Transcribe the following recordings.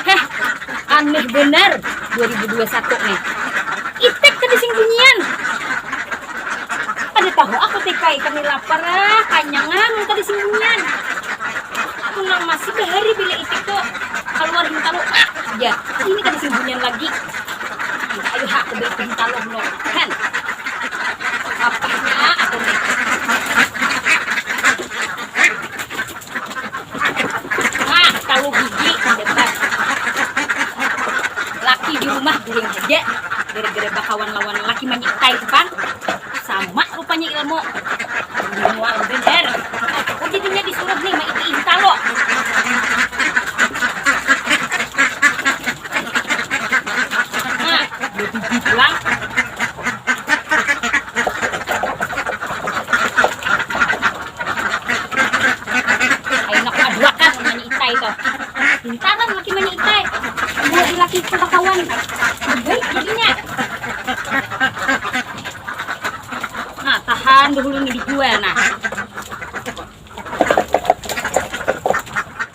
Heh, aneh benar 2021 nih. Itek kada sing bunyian. Kada tahu aku TKI kami lapar ah, kanyangan mun kada sing bunyian. Aku nang masih bahari bila itik tu kaluar hintalu ah ja. Ini kada sing bunyian lagi. Ayo ha aku baik hintalu dulu. Hen. Apahnya aku nih. Nah, kalu bigi debat. Laki di rumah guring haja, gara-gara bakawan lawan laki manyitai tu pang. Sama rupanya ilmu. Ini mual banar. Oh jadinya disuruh nih maiti inta lo. Nah, bebigi pulang. Ainak maduakan mani itai tuh. Pintar lah laki mani itai. Dua ilaki itu bakawan. Baik jadinya. Nah, tahan dahulu nih dijual nah.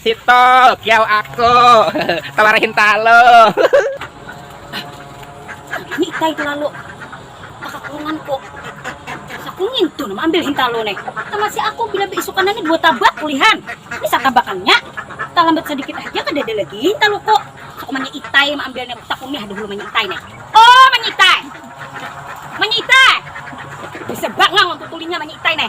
Situ kiau aku talar hintalu. Gini tay terlalu kakakurungan ko. Aku ngintu nama ambil hintalu ne. Tama si aku bila beisukan nani dua tabak kulihan. Ni satabakannya. Talambat sadikit haja kadada lagi hintalu ko. Suku manya itai maambil ne aku takuni ha dahulu manya itai ne. Oh manya itai. Manya itai. Bisa bangang aku tutulinya manya itai ne.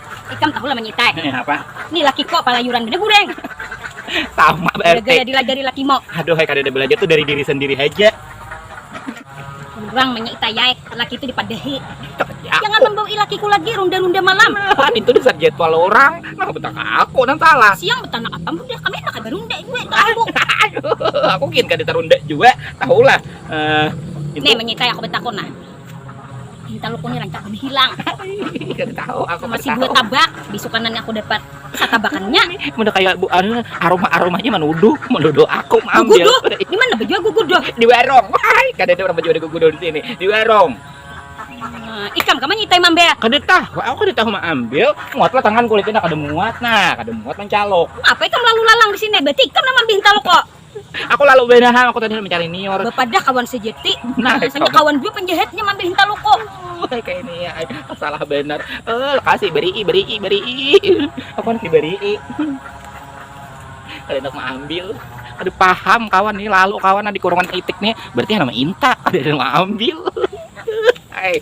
Ikam tahulah manyitai. Napa? Ni lakiko palayuran banar gureng. Sama ba RT. Gara-gara dilajari lakimo. Aduh ai kadada balajar tu dari diri sendiri haja. Urang manyitai ai laki tu dipadahi. Jangan mambaui lakiku lagi runda-runda malam. Nah itu dasar jadwal urang. Nang betang ka aku nang salah. Siang betanak apa mun dah kami handak kada runda jua ka aku. Aduh aku gin kada tarunda jua tahulah. Nih manyitai aku batakun nah. Hintalu ku ni rancak bahilang. Kada tahu aku kada Masih dua tahu. tabak, bisukanan aku dapat satabakannya. Menda kaya bu anu aroma-aromanya manuduh, manuduh aku maambil. Guguduh, di mana bajual guguduh? Di warung. Wahai, kada ada urang bajual guguduh di sini. Di warung. Nah, ikam ka manyitai mambel. Kada tahu, aku kada tahu maambil. Muatlah tangan kulitnya nah kada muat nah, kada muat mancaluk. Apa ikam lalu lalang di sini? Berarti ikam nang maambil hintalu ko. Aku lalu banahan, aku tadi mencari nior. Bapadah kawan sejati. Nah, Rasanya kawan jua penjahatnya mambil hintalu ko. Kayak ini ya, salah benar. Eh, kasih berii, berii, berii. Aku nanti berii. Kalian mau ambil. Aduh paham kawan nih lalu kawan di kurungan itik nih berarti nama inta ada yang mau ambil. Hai.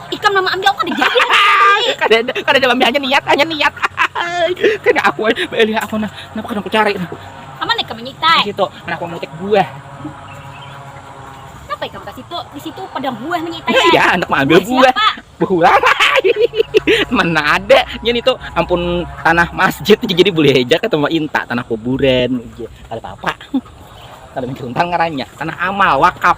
ikam nama ambil kada jadi kada ada kada ada ambil hanya niat hanya niat kada aku beli aku nah napa kada aku cari aman ikam menyitai situ mana aku mutik buah napa ikam ke situ di situ padang buah menyitai ya, ya anak ambil buah buah mana ada nyen itu ampun tanah masjid jadi boleh aja ketemu inta tanah kuburan iya, ada apa-apa kalau mencuntan ngarannya tanah amal wakaf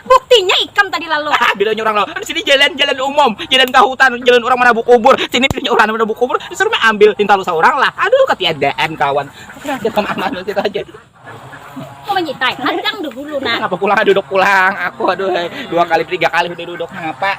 Buktinya ikam tadi lalu. Haha bilanya urang lalu, disini jalan jalan umum, jalan ka hutan, jalan urang manabuk kubur, sini bilanya urang manabuk kubur, disuruh mi ambil hintalu saurang lah, aduh katiadaan kawan, katiadaan kawan aman banar kita aja. Mau manyitai hadang dahulu nah. Napa pulang duduk pulang aku aduhai, dua kali tiga kali sudah duduk napa.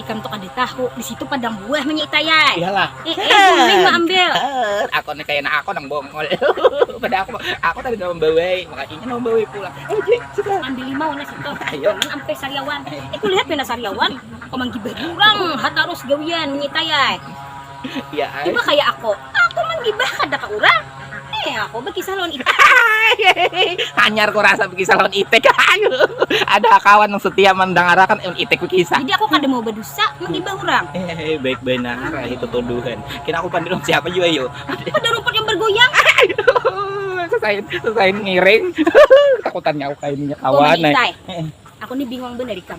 Ikam tu kada tahu, di situ padang buah nya Nyi Itai ai. Iyalah. Eh, eh bulik ma ambil. Ber, aku ni kaya anak aku nang bongol. Pada aku, aku tadi nang membawai, maka inya nang membawai pulang. Eh, Dek, sudah. Ambil limau nah situ. Ayo. Jangan ampai sariawan. Eh, kulihat pina sariawan. Kau manggibah urang, ha tarus gawian Nyi Itai ai. Iba kaya ako, ako manggibah kada ka urang, eh ako bakisah lawan itik. Hanyar ko rasa bakisah lawan itik, ada ha kawan nang setia mandangarakan itik bakisah. Jadi ako kada mau badusa manggibah urang. Baik banar ae tutuduhan, kira ako pandil lawan siapa jua yu. Pada rumput yang bergoyang. Sasain sasain ngiring. Takutan nyauk ae inya kawan ai. Ako ni bingung banar ikam.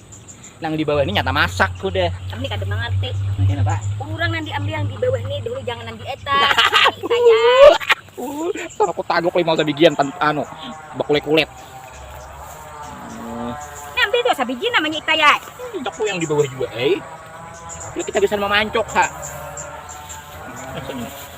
nang di bawah ini nyata masak udah kami kada mengerti kenapa orang nang diambil yang di bawah ini dulu jangan nang di atas saya uh aku tagok lima sabigian tan anu bakulit kulit ngambil tuh sabigi namanya kita ya aku yang di bawah juga eh kita bisa memancok ha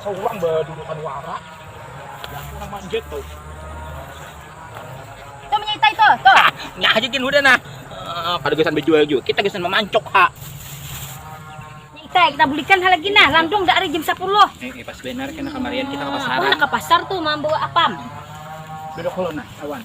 Saurang badudukan wara, yang nang manjat tu. Tuh menyitai tuh, tuh. Nya aja gin hudah nah. Uh, kada gasan bejual juga, kita gasan memancok ha. Nyitai, kita bulikan ha lagi nah, landung dah hari jam 10. Eh, eh pas benar kena kamarian kita ke pasaran. Aku ke pasar tuh mambawa apam. Duduk dulu nah, awan.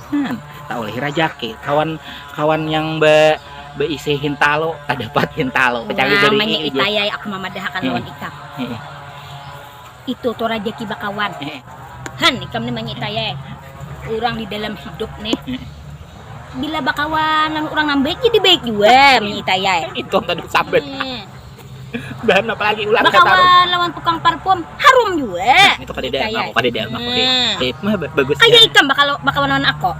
Nah, taulih rajaki kawan kawan yang be beisi hintalo kada dapat hintalo kecuali dari namanya itayai aku mamadahakan hmm. lawan ikam hmm. itu tuh rajaki bakawan hmm. han ikam nih namanya itayai orang di dalam hidup nih hmm. bila bakawan orang nambah jadi baik juga hmm. itayai itu tadi sabet hmm. dan apalagi ular bakawan lawan tukang parfum harum juga nah, itu kadeda kaya aku kadeda aku nah. tip mah bagus kaya ikam bakal bakawan lawan aku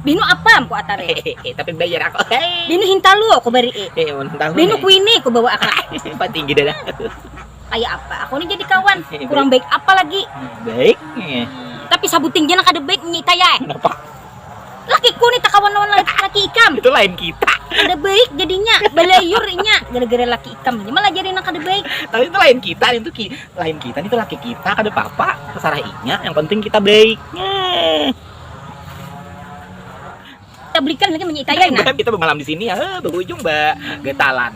Binu apa aku atare tapi bayar aku Binu hintalu aku beri eh, eh Binu eh. kuini aku bawa aku paling tinggi dah kayak apa aku ini jadi kawan kurang baik apa lagi baik tapi sabuting jangan ada baiknya kayak kenapa lakiku nih takawan lawan laki ikam itu lain kita kada baik jadinya balayur inya gara-gara laki ikam ini malajari nang kada baik tapi itu lain kita itu ki, lain kita itu laki kita kada apa-apa terserah inya yang penting kita baik eh. kita belikan lagi menyitaya nah kita bemalam di sini ya eh, berujung ba getalan